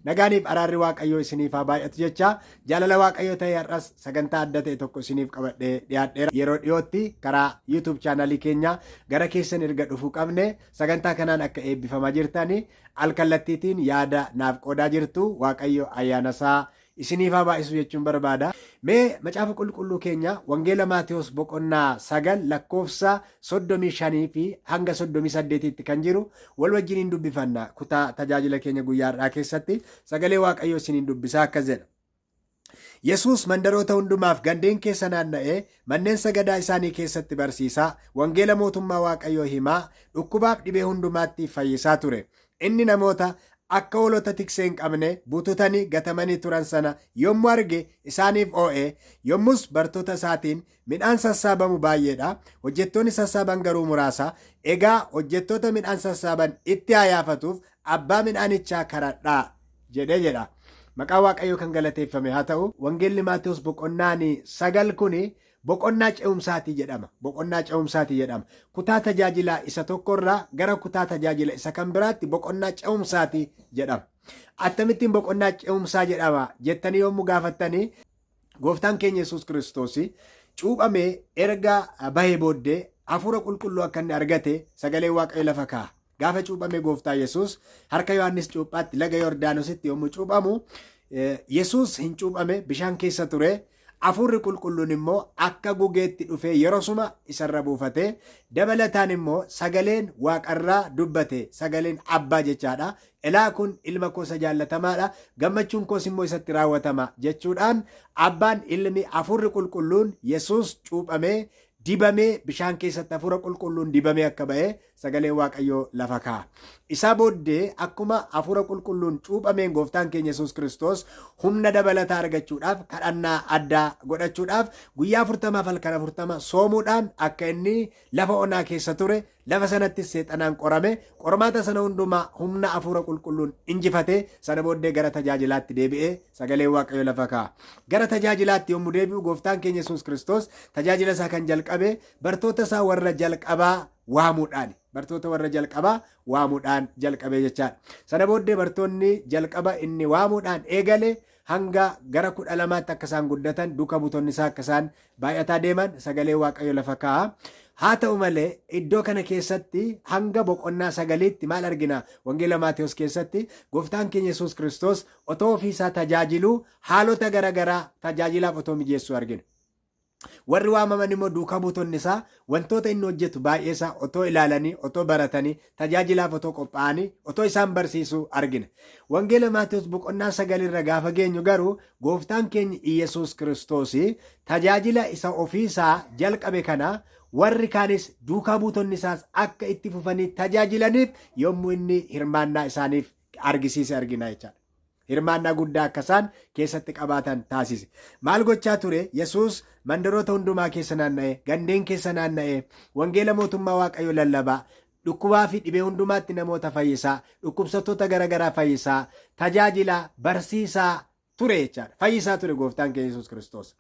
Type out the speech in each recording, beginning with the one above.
Nagaaniif araarri Waaqayyoo isiniif haa baay'atu jechaa jaalala Waaqayyoo ta'ee har'as sagantaa adda ta'e tokko isiniif qabadhee dhiyaadheera. Yeroo dhiyootti karaa YouTube chaanalii keenya gara keessan erga dhufuu qabne sagantaa kanaan akka eebbifamaa jirtan alkallattiitiin yaada naaf qoodaa jirtu Waaqayyo ayyaana isaa isiniif haa baay'isu jechuun barbaada. Mee macaafa qulqulluu keenya Wangeela Maatewos boqonnaa sagal lakkoofsa 35 fi hanga 38tti kan jiru wal wajjin hin dubbifanna. Kutaa tajaajila keenya guyyaa har'aa keessatti sagalee Waaqayyoo isin hin dubbisa akkas jedha. Yesuus mandaroota hundumaaf gandeen keessa naanna'ee manneen sagadaa isaanii keessatti barsiisaa, wangeela mootummaa Waaqayyoo himaa, dhukkubaaf dhibee hundumaatti fayyisaa ture. Inni namoota akka hoolota tiksee hin qabne bututanii gatamanii turan sana yommuu arge isaaniif oo'ee yommus bartoota isaatiin Midhaan sassaabamu baay'eedha. Hojjettoonni sassaaban garuu muraasa. Egaa hojjettoota midhaan sassaaban itti haa yaafatuuf abbaa midhaanichaa karadhaa jedhe jedha. Maqaa Waaqayyoo kan galateeffame haa ta'u. Wangeelli Maatewos boqonnaan sagal kun boqonnaa ce'umsaati jedhama. Boqonnaa ce'umsaati jedhama. Kutaa tajaajilaa isa tokkorraa gara kutaa tajaajila isa kan biraatti boqonnaa ce'umsaati jedhama. Attamittiin boqonnaa ce'umsaa jedhama jettanii yommuu gaafattanii Gooftaan keenya Yesuus Kiristoos cuuphamee erga bahee booddee hafuura qulqulluu akka inni argate sagalee waaqayyo lafa kaa'a. Gaafa cuuphamee gooftaa Yesuus harka Yohaannis cuuphaatti laga Yordaanositti yommuu cuuphamu Yesuus hin cuuphame bishaan keessa ture. Hafuurri qulqulluun immoo akka gugeetti dhufee yerosuma isarra buufate. Dabalataan immoo sagaleen waaqarraa dubbate sagaleen abbaa jechaadha. Elaa kun ilma koo isa jaallatamaa dha, gammachuun koos immoo isatti raawwatama jechuudhaan Abbaan, Ilmi, Hafuurri Qulqulluun, Yesuus cuuphamee, dibamee, bishaan keessatti Hafuura Qulqulluun dibamee akka ba'e sagaleen Waaqayyoo lafa kaa'a. Isaa booddee akkuma Hafuura Qulqulluun cuuphameen Gooftaan keenya Yesuus Kiristoos humna dabalataa argachuudhaaf kadhannaa addaa godhachuudhaaf guyyaa afurtamaaf halkan afurtama soomuudhaan akka inni lafa onaa keessa ture Lafa sanattis Seexanaan qorame, qormaata sana hundumaa humna Hafuura Qulqulluun injifate, sana booddee gara tajaajilaatti deebi'e, Sagaleen Waaqayyo lafa kaa'a. Gara tajaajilaatti yommu deebi'u Gooftaan keenya Yesuus Kiristoos tajaajila isaa kan jalqabe bartoota isaa warra jalqabaa waamuudhaani. Bartoota warra jalqabaa waamuudhaan jalqabee jechaadha. Sana booddee bartoonni jalqaba inni waamuudhaan eegale hanga gara kudha lamaatti akka isaan guddatan duuka buutonni isaa akka isaan baay'ataa deeman sagalee waaqayyo lafa kaa'a. Haa ta'u malee iddoo kana keessatti hanga boqonnaa sagaliitti maal argina wangeela Maatewos keessatti gooftaan keenya Yesuus Kiristoos otoo ofii isaa tajaajiluu haalota garaagaraa tajaajilaaf otoo mijeessuu argina. Warri waamaman immoo duukaa buutonni isaa wantoota inni hojjetu baay'ee isaa otoo ilaalanii, otoo baratanii, tajaajilaaf otoo qophaa'anii, otoo isaan barsiisuu argina. Wangeela Maatewos boqonnaa sagal irra gaafa geenyu garuu gooftaan keenya Iyyasuus Kiristoos tajaajila isa ofii isaa jalqabe kana warri kaanis duukaa buutonni isaas akka itti fufanii tajaajilaniif yommuu inni hirmaannaa isaaniif argisiise argina jechaadha. hirmaannaa guddaa akka isaan keessatti qabaatan taasise. Maal gochaa ture? Yesuus mandaroota hundumaa keessa naanna'ee, gandeen keessa naanna'ee, wangeela mootummaa Waaqayyoo lallabaa, dhukkubaa fi dhibee hundumaatti namoota fayyisaa, dhukkubsattoota garaagaraa fayyisaa, tajaajilaa, barsiisaa ture jechaadha. Fayyisaa ture gooftaan keenya Yesuus Kiristoos.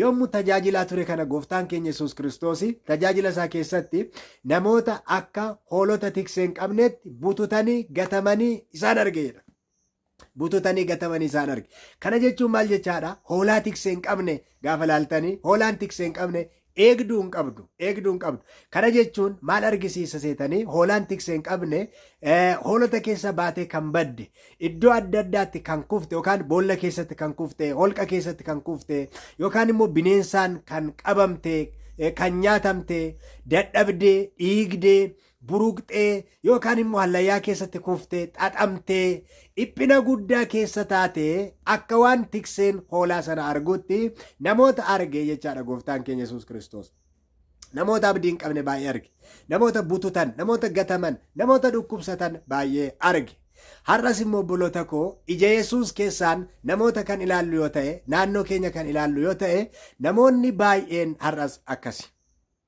Yommuu tajaajilaa ture kana gooftaan keenya Yesuus Kiristoos tajaajila isaa keessatti namoota akka hoolota tiksee hin qabneetti bututanii gatamanii isaan arge jedha. Bututanii gatamanii isaan arge. Kana jechuun maal jechaadha? Hoolaa tiksee hin qabne gaafa laaltanii hoolaan tiksee hin qabne eegduu hin qabdu eegduu hin qabdu kana jechuun maal argisiisa seetanii hoolaan tiksee hin qabne eh, hoolota keessa baatee kan badde iddoo adda addaatti kan kufte yookaan boolla keessatti kan kufte holqa keessatti kan kufte yookaan immoo bineensaan kan qabamte eh, kan nyaatamte dadhabdee dhiigdee buruqxee yookaan immoo hallayyaa keessatti kuftee xaxamtee dhiphina guddaa keessa taatee akka waan tikseen hoolaa sana arguutti namoota arge jechaadha gooftaan keenya Yesuus Kiristoos. Namoota abdii hin qabne baay'ee arge. Namoota bututan, namoota gataman, namoota dhukkubsatan baay'ee arge. Har'as immoo obboloota koo ija Yesuus keessaan namoota kan ilaallu yoo ta'e, naannoo keenya kan ilaallu yoo ta'e, namoonni baay'een har'as akkasi.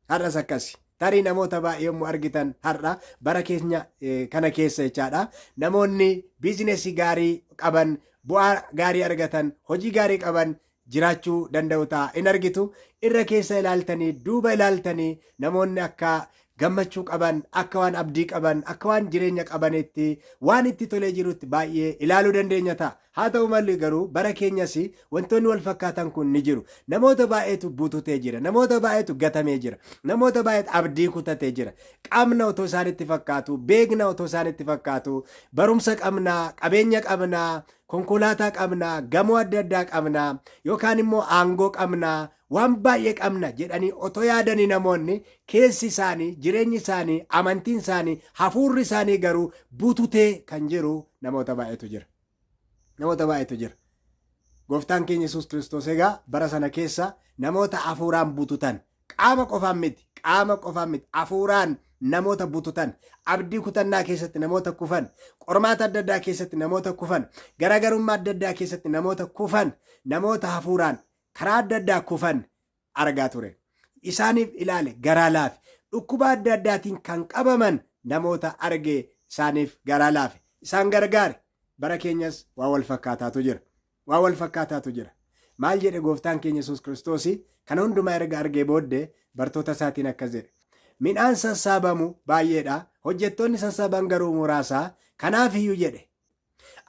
Har'as akkasi. Tarii namoota baay'ee yommuu argitan har'a bara keenya eh, kana keessa jechaadha. Namoonni biizinesii gaarii qaban, bu'aa gaarii argatan, hojii gaarii qaban jiraachuu danda'u ta'a. In argitu irra keessa ilaaltanii, duuba ilaaltanii namoonni akka gammachuu qaban, akka waan abdii qaban, akka waan jireenya qabanitti, waan itti tolee jirutti baay'ee ilaaluu dandeenya ta'a. Haa ta'u malee garuu bara keenyas wantoonni wal fakkaatan kun ni jiru. Namoota baay'eetu bututee jira. Namoota baay'eetu gatamee jira. Namoota baay'eetu abdii kutatee jira. Qabna otoo isaanitti fakkaatuu, beekna otoo isaanitti fakkaatuu, barumsa qabna, qabeenya qabna, konkolaataa qabna, gamoo adda addaa qabna, yookaan immoo aangoo qabna, waan baay'ee qabna jedhanii otoo yaadanii namoonni keessi isaanii, jireenyi isaanii, amantiin isaanii, hafuurri isaanii garuu bututee kan jiru namoota baay'eetu jira. Namoota baay'eetu jira. Gooftaan keenya Yesuus Kiristoos egaa bara sana keessa namoota hafuuraan bututan qaama qofaan miti qaama qofaan miti hafuuraan namoota bututan abdii kutannaa keessatti namoota kufan qormaata adda addaa keessatti namoota kufan garaagarummaa adda addaa keessatti namoota kufan namoota hafuuraan karaa adda addaa kufan argaa ture. Isaaniif ilaale garaa laafe. Dhukkuba adda addaatiin kan qabaman namoota arge isaaniif garaa laafe. Isaan gargaare. Bara keenyas waa wal fakkaataatu jira. Waa wal fakkaataatu jira. Maal jedhe gooftaan keenya Yesuus Kiristoos kana hundumaa erga argee booddee bartoota isaatiin akkas jedhe. Midhaan sassaabamu baay'eedha. Hojjettoonni sassaaban garuu muraasaa. Kanaaf iyyuu jedhe.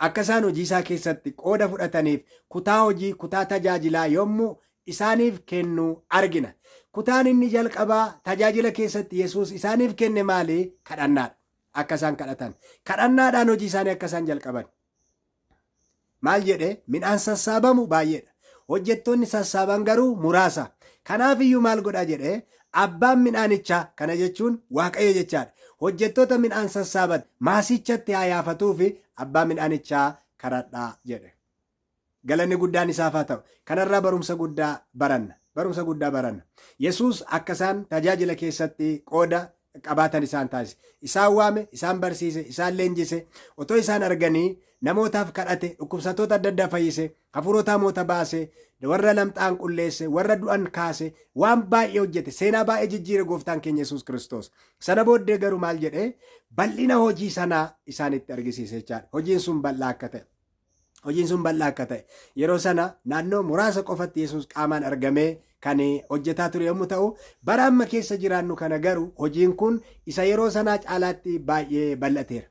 Akka isaan hojii isaa keessatti qooda fudhataniif kutaa hojii, kutaa tajaajilaa yommuu isaaniif kennu argina. Kutaan inni jalqabaa tajaajila keessatti Yesuus isaaniif kenne maali? Kadhannaadha. Akka isaan kadhatan. Kadhannaadhaan hojii isaanii akka isaan jalqaban. Maal jedhe? Midhaan sassaabamu baay'eedha. Hojjettoonni sassaaban garuu muraasa. Kanaaf iyyuu maal godha jedhe? Abbaan midhaanichaa, kana jechuun Waaqayyo jechaa dha, hojjettoota midhaan sassaaban maasichatti haa yaafatuufi abbaa midhaanichaa kadhadhaa jedhe. Galanni guddaan isaaf haa ta'u. Kanarraa barumsa guddaa baranna. Barumsa guddaa baranna. Yesuus akka isaan tajaajila keessatti qooda qabaatan isaan taasise. Isaan waame, isaan barsiise, isaan leenjise, otoo isaan arganii namootaaf kadhate, dhukkubsattoota adda addaa fayyise, hafuurota hamoota baase, warra lamxaan qulleesse, warra du'an kaase, waan baay'ee hojjete, seenaa baay'ee jijjiire gooftaan keenya Yesuus Kiristoos. Sana booddee garuu maal jedhee bal'ina hojii sanaa isaanitti argisiise jechaadha. Hojiin sun bal'aa akka ta'e. Hojiin sun bal'aa akka ta'e. Yeroo sana naannoo muraasa qofatti Yesuus qaamaan argamee kan hojjetaa ture yommuu ta'u, bara amma keessa jiraannu kana garuu hojiin kun isa yeroo sanaa caalaatti baay'ee bal'ateera.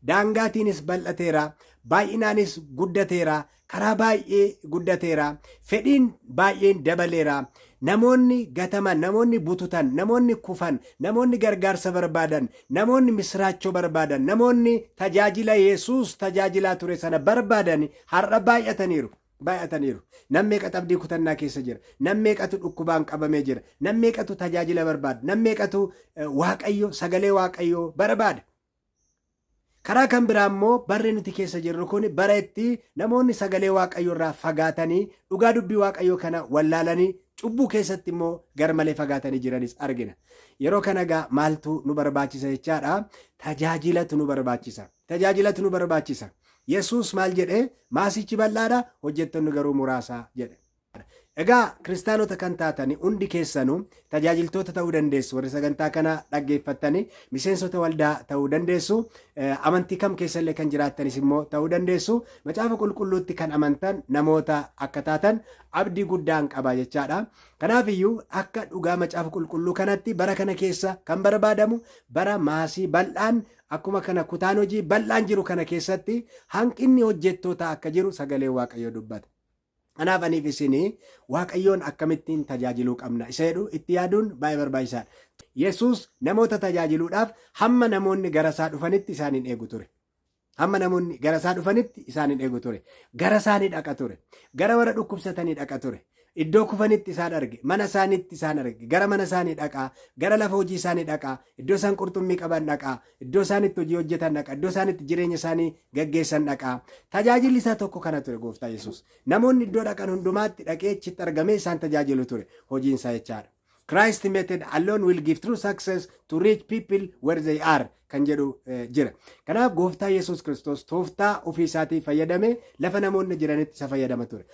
Daangaatiinis bal'ateera, baay'inaanis guddateera, karaa baay'ee guddateera, fedhiin baay'een dabaleera. Namoonni gataman, namoonni bututan, namoonni kufan, namoonni gargaarsa barbaadan, namoonni misiraachoo barbaadan, namoonni tajaajila Yesuus tajaajilaa ture sana barbaadan har'a baay'ataniiru. Baay'ataniiru. Nam meeqatu abdii kutannaa keessa jira? Nam meeqatu dhukkubaan qabamee jira? Nam meeqatu tajaajila barbaada? Nam meeqatu eh, Waaqayyo, sagalee Waaqayyoo barbaada? Karaa kan biraa immoo barri nuti keessa jirru kun bara itti namoonni sagalee Waaqayyoo irraa fagaatanii, dhugaa dubbii Waaqayyoo kana wallaalanii, cubbuu keessatti immoo garmalee fagaatanii jiranis argina. Yeroo kana egaa maaltu nu barbaachisa jechaadha? Tajaajilatu nu barbaachisa. Tajaajilatu nu barbaachisa. Yesuus maal jedhe? Maasichi bal'aadha, hojjettoonni garuu muraasa jedhe. Egaa kiristaanota kan taatani hundi keessanu tajaajiltoota ta'uu dandeessu. Warri sagantaa kana dhaggeeffattani miseensota waldaa ta'uu dandeessu. Amantii kam keessallee kan jiraattanis immoo ta'uu dandeessu. Macaafa qulqulluutti kan amantan namoota akka taatan abdii guddaan qaba jechaadha. Kanaafiyyuu akka dhugaa macaafa qulqulluu kanatti bara kana keessa kan barbaadamu bara maasii bal'aan akkuma kana kutaan hojii bal'aan jiru kana keessatti hanqinni hojjettootaa akka jiru sagalee waaqayyoo dubbata. Kanaaf aniif isin Waaqayyoon akkamittiin tajaajiluu qabna isa jedhu itti yaaduun baay'ee barbaachisaadha. Yesuus namoota tajaajiluudhaaf hamma namoonni gara isaa dhufanitti isaan hin eegu ture. Hamma namoonni gara isaa dhufanitti isaan hin eegu ture. Gara isaanii dhaqa ture. Gara warra dhukkubsatanii dhaqa ture. Iddoo kufanitti isaan arge, mana isaaniitti isaan arge, gara mana isaanii dhaqaa, gara lafa hojii isaanii dhaqaa, iddoo isaan qurxummii qaban dhaqaa, Iddoo isaan itti hojii hojjetan dhaqa. Iddoo isaan itti jireenya isaanii gaggeessan dhaqa. Tajaajilli isaa tokko kana ture gooftaa Yesuus. Namoonni iddoo dhaqan hundumaatti dhaqee achitti argamee isaan tajaajilu ture. Hojiin isaa jechaadha. Christ method alone will give true success to reach people where they are kan jedhu eh, jira. Kanaaf gooftaa Yesuus Kiristoos tooftaa ofii isaatii fayyadamee lafa namoonni jiranitti isa fayyadama ture.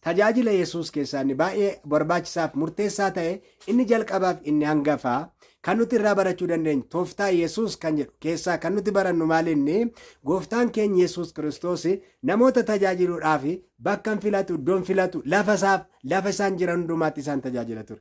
Tajaajila Yesuus keessaa inni baay'ee barbaachisaaf murteessaa ta'e Inni jalqabaaf inni hangafaa kan nuti irraa barachuu dandeenyu tooftaa Yesuus kan jedhu keessaa kan nuti barannu maalinni gooftaan keenya Yesuus Kiristoos namoota tajaajiluudhaaf bakka hin filatu, iddoo hin filatu, lafa isaaf lafa isaan jiran hundumaatti isaan tajaajila ture.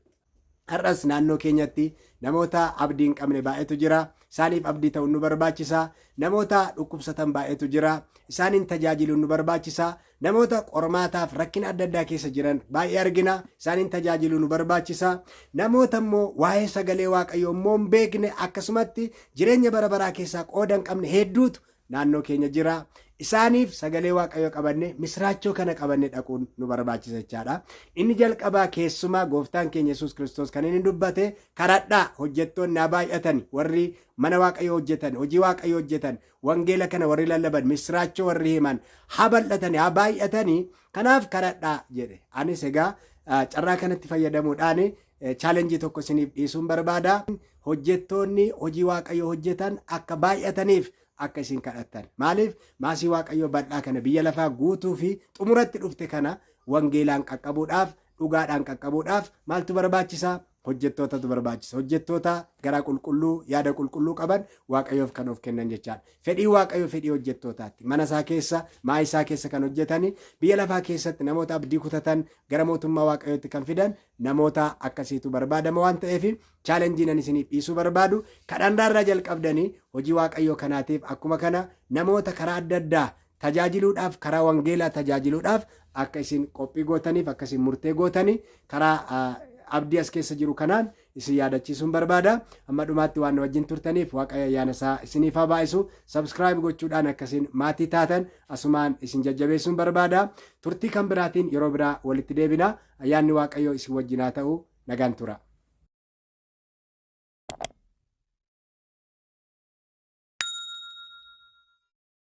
Har'as naannoo keenyatti namoota abdii hin qabne baay'eetu jira. Isaaniif abdii ta'uun nu barbaachisa. Namoota dhukkubsatan baay'eetu jira. Isaaniin tajaajiluun nu barbaachisa. Namoota qormaataaf rakkina adda addaa keessa jiran baay'ee argina. Isaaniin tajaajiluu nu barbaachisa. Namoota immoo waa'ee sagalee Waaqayyoo immoo hin beekne akkasumatti jireenya bara baraa keessaa qooda hin qabne hedduutu naannoo keenya jira. Isaaniif sagalee Waaqayyoo qabanne misraachoo kana qabanne dhaquun nu barbaachisa jechaadha. Inni jalqabaa keessumaa gooftaan keenya Yesuus Kiristoos kan inni dubbate karadhaa hojjettoonni haa baay'atan warri mana Waaqayyoo hojjetan hojii Waaqayyoo hojjetan Wangeela kana warri lallaban, misiraachoo warri himan, haa bal'atanii, haa baay'atanii, kanaaf kadhadhaa jedhe. Anis egaa ah, carraa kanatti fayyadamuudhaan eh, chaalenjii tokko isiniif dhiisuun barbaada. Hojjettoonni hojii Waaqayyoo hojjetan akka baay'ataniif akka isin kadhattan. Maaliif maasii Waaqayyoo bal'aa kana biyya lafaa guutuu fi xumuratti dhufte kana wangeelaan qaqqabuudhaaf, dhugaadhaan qaqqabuudhaaf maaltu barbaachisa? hojjettootatu barbaachisa. Hojjettoota garaa qulqulluu, yaada qulqulluu qaban Waaqayyoof kan of kennan jechaadha. Fedhii Waaqayyoo fedhii hojjettootaatti. Mana isaa keessa, maa isaa keessa kan hojjetani, biyya lafaa keessatti namoota abdii kutatan gara mootummaa Waaqayyootti kan fidan namoota akkasiitu barbaadama waan ta'eef chaalenjii nan isiniif dhiisuu barbaadu. Kadhannaarraa jalqabdanii hojii Waaqayyoo kanaatiif akkuma kana namoota karaa adda addaa tajaajiluudhaaf, karaa wangeelaa tajaajiluudhaaf akka isin qophii gootaniif, akka isin murtee gootanii karaa ah, abdii as keessa jiru kanaan isin yaadachiisuun barbaada. Amma dhumaatti waan na wajjin turtaniif Waaqayyo ayyaana isaa isiniif haa baay'isu. Subscribe gochuudhaan akka isin maatii taatan asumaan isin jajjabeessuun barbaada. Turtii kan biraatiin yeroo biraa walitti deebina. Ayyaanni Waaqayyoo isin wajjin haa ta'u. Nagaan tura.